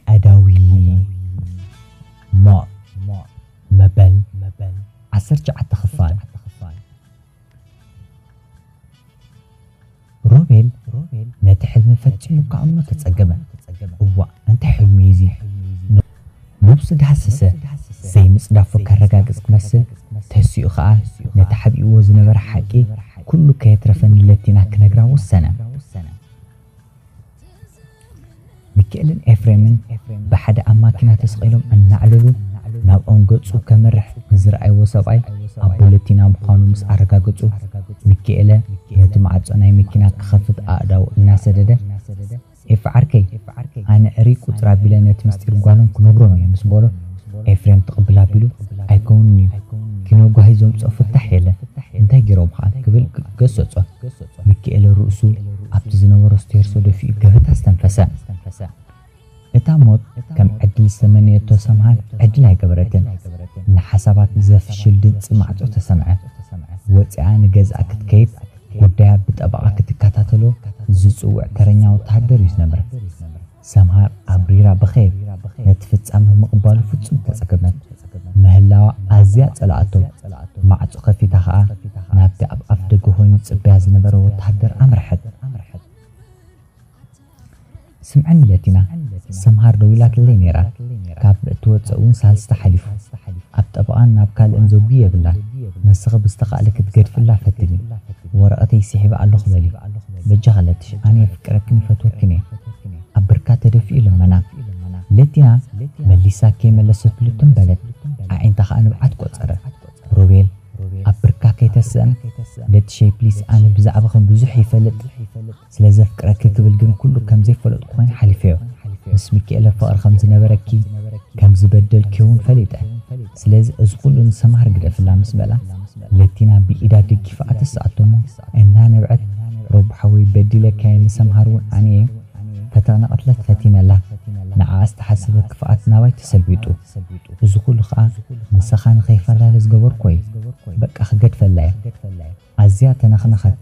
ቀዳዊ ሞት መበል ዓሰርተ ትሽዓተ ክፋል ሮቤል ነቲ ሕልሚ ፈጺሙ ክኣምኖ ተጸገመ። እዋእ እንታይ ሕልሚ እዩ እዚ? ነብሱ ዳህሰሰ። ዘይምጽዳፉ ከረጋግጽ ክመስል ተሲኡ ከኣ ነቲ ሓቢእዎ ዝነበረ ሓቂ ኩሉ ከየትረፈ ንለቲና ክነግራ ወሰነ። ሚኪኤልን ኤፍሬምን ብሓደ ኣብ ማኪና ተሰቒሎም እናዕለሉ ናብኦም ገጹ ከምርሕ ንዝረኣይዎ ሰብኣይ ኣብ ቦለቲና ምዃኑ ምስ ኣረጋገጹ፣ ሚኪኤለ ነቲ ማዕጾ ናይ መኪና ክኸፍት ኣእዳዉ እናሰደደ፣ ኤፊ ዓርከይ፣ ኣነ እርይ ቁጽር ኣቢለ ነቲ ምስጢር ጓሎም ክነግሮም እየ ምስ በሎ፣ ኤፍሬም ትቕብል ኣቢሉ፣ ኣይከውንን'ዩ፣ ኪኖ ጓሂ ዘምጽኦ ፍታሕ የለን፣ እንታይ ገይሮም ኸኣ ክብል ገሰጾ። ሚኪኤለ ርእሱ ኣብቲ ዝነበሮ ስቴርሶ ደፊኡ ገበታ ኣስተንፈሰ። እታ ሞት ከም ዕድል ዝተመነየቶ ሰምሃር ዕድል ኣይገበረትን። ንሓሳባት ብዘፍሽል ድምጺ ማዕጾ ተሰምዐ። ወጺኣ ንገዝኣ ክትከይድ ጉዳያ ብጠበቓ ክትከታተሎ ዝጽውዕ ተረኛ ወተሃደር እዩ ዝነብር። ሰምሃር ኣብሪራ ብኼብ ነቲ ፍጻመ ምቕባሉ ፍጹም ተጸገመት። ምህላዋ ኣዝያ ጸልኣቶ። ማዕጾ ከፊታ ከኣ ናብቲ ኣብ ኣፍደገ ኮይኑ ዝጽበያ ዝነበረ ወተሃደር ኣምርሐት። ስምዕኒ ለቲና፣ ሰምሃር ደዊላትለይ ነይራ። ካብ እትወጽእ እውን ሳልስቲ ሓሊፉ። ኣብ ጠበቓን ናብ ካልእን ዘጉ የብላን። ንስኺ ብዝተኻእለኪ ክትገድፍላ ፈትኒ። ወረቀተይ ሲሒበ ኣለኹ በሊ በጃኻ ለትሽ ኣነ የፍቅረክን ይፈትወክን እየ ኣብ ብርካ ተደፊኡ ለመና ለቲና መሊሳ ከይመለሰትሉ ትም በለት ኣዒንታ ኸኣ ንብዓት ቆጸረ ሮቤል ኣብ ብርካ ከይተስእን ለትሸይ ፕሊስ ኣነ ብዛዕብኽን ብዙሕ ይፈልጥ ስለ ዘፍቅረኪ ክብል ግን ኩሉ ከም ዘይፈለጥኩ ኮይነ ሓሊፈዮ። ምስ ሚኪኤለ ፍቕሪ ከም ዝነበረኪ፣ ከም ዝበደልክዮውን ፈሊጠ። ስለዚ እዚ ኩሉ ንሰምሃር ግደፍላ ምስ በላ፣ ለቲና ብኢዳ ደጊፋኣ ተስኣቶ እሞ እናነብዐት፣ ሮቡ ሓወይ በዲለካየ ንሰምሃርውን ኣነየ ፈተቕ ነቐትለት ፈቲነላ። ንዓኣ ዝተሓሰበ ክፍኣት ናባይ ተሰልቢጡ። እዚ ኩሉ ከኣ ምሳኻ ንከይፈላለ ዝገበርኩዎየ። በቃ ክገድፈላየ። ኣዝያ ተነኽነኸት፣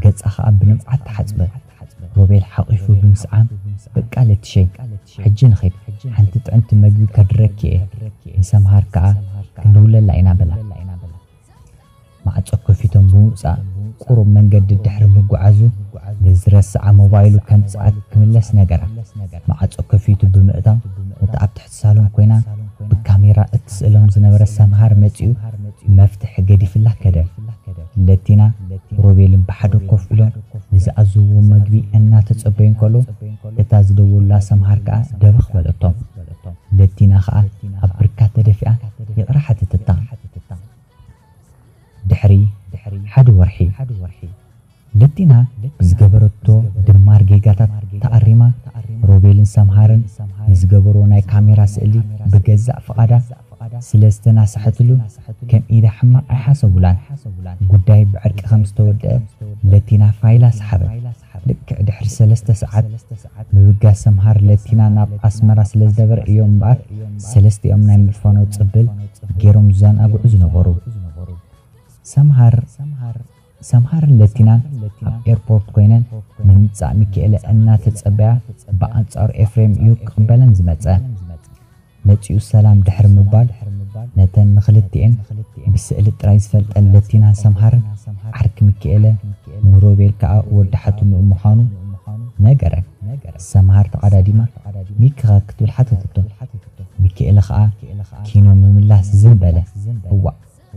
ገጻ ኸኣ ብንብዓት ተሓጽበ። ሮቤል ሓቚፉ ብምስዓም፣ በቃ ለቲሸይ፣ ሕጂ ንኺድ፣ ሓንቲ ጥዕምቲ መግቢ ከድረኪ'የ፣ ንሰምሃር ከኣ ክንድውለላ ኢና በላ። ማዕጾ ከፊቶም ብምውጻእ ቁሩብ መንገዲ ድሕሪ ምጉዓዙ፣ ንዝረስዓ ሞባይሉ ከምጽኣት ክምለስ ነገራ። ማዕጾ ከፊቱ ብምእታው፣ ነታ ኣብ ትሕቲ። ሳሎን ኮይና ብካሜራ እትስእሎም ዝነበረት ሰምሃር መጺኡ መፍትሕ ገዲፍላ ከደ። ለቲና ሮቤልን ብሓደ ኮፍ ኢሎም ንዝኣዘዝዎ መግቢ እናተጸበዩ እንከለዉ እታ ዝደወሉላ ሰምሃር ከኣ ደበኽ በለቶም። ለቲና ከኣ ኣብ ብርካ ተደፊኣ ይቕረ ሓተተታ። ድሕሪ ሓደ ወርሒ። ለቲና ብዝገበረቶ ድማር ጌጋታት ተኣሪማ፣ ሮቤልን ሰምሃርን ንዝገበርዎ ናይ ካሜራ ስእሊ ብገዛእ ፍቓዳ ስለ ዝተናስሐትሉ ከም ኢዳ ሕማቕ ኣይሓሰቡላን። ጉዳይ ብዕርቂ ከም ዝተወድኣ ለቲና ፋይላ ሰሓበት። ልክዕ ድሕሪ ሰለስተ ሰዓት ምብጋስ ሰምሃር ለቲና ናብ ኣስመራ ስለ ዝነበረ እዮም እምበኣር ሰለስቲኦም ናይ ምፋኖ ጽብል ገይሮም ዝዘናግዑ ዝነበሩ። ሰምሃር፣ ሰምሃርን ለቲናን ኣብ ኤርፖርት ኮይነን ንምምጻእ ሚኪኤለ እናተጸበያ ብኣንጻሩ ኤፍሬም እዩ ክቕበለን ዝመጸ። መጺኡ ሰላም ድሕሪ ምባል ነተን ንኽልቲኤን ብስእሊ ጥራይ ዝፈልጠን ለቲናን ሰምሃርን ዓርኪ ሚኪኤለ ንሮቤል ከኣ ወዲ ሓትንኡ ምዃኑ ነገረን። ሰምሃር ተቐዳዲማ ሚኪኸ ክትብል ሓተተቶ። ሚኪኤለ ከኣ ኪኖ ምምላስ ዝም በለ። እዋእ!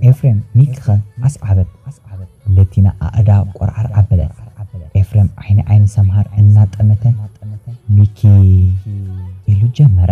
ኤፍሬም ሚቅኸ ኣስዓበት ለቲና ኣእዳዋ ቆርዓር ኣበለት። ኤፍሬም ዓይኒ ዓይኒ ሰምሃር እናጠመተ ሚኪ ኢሉ ጀመረ።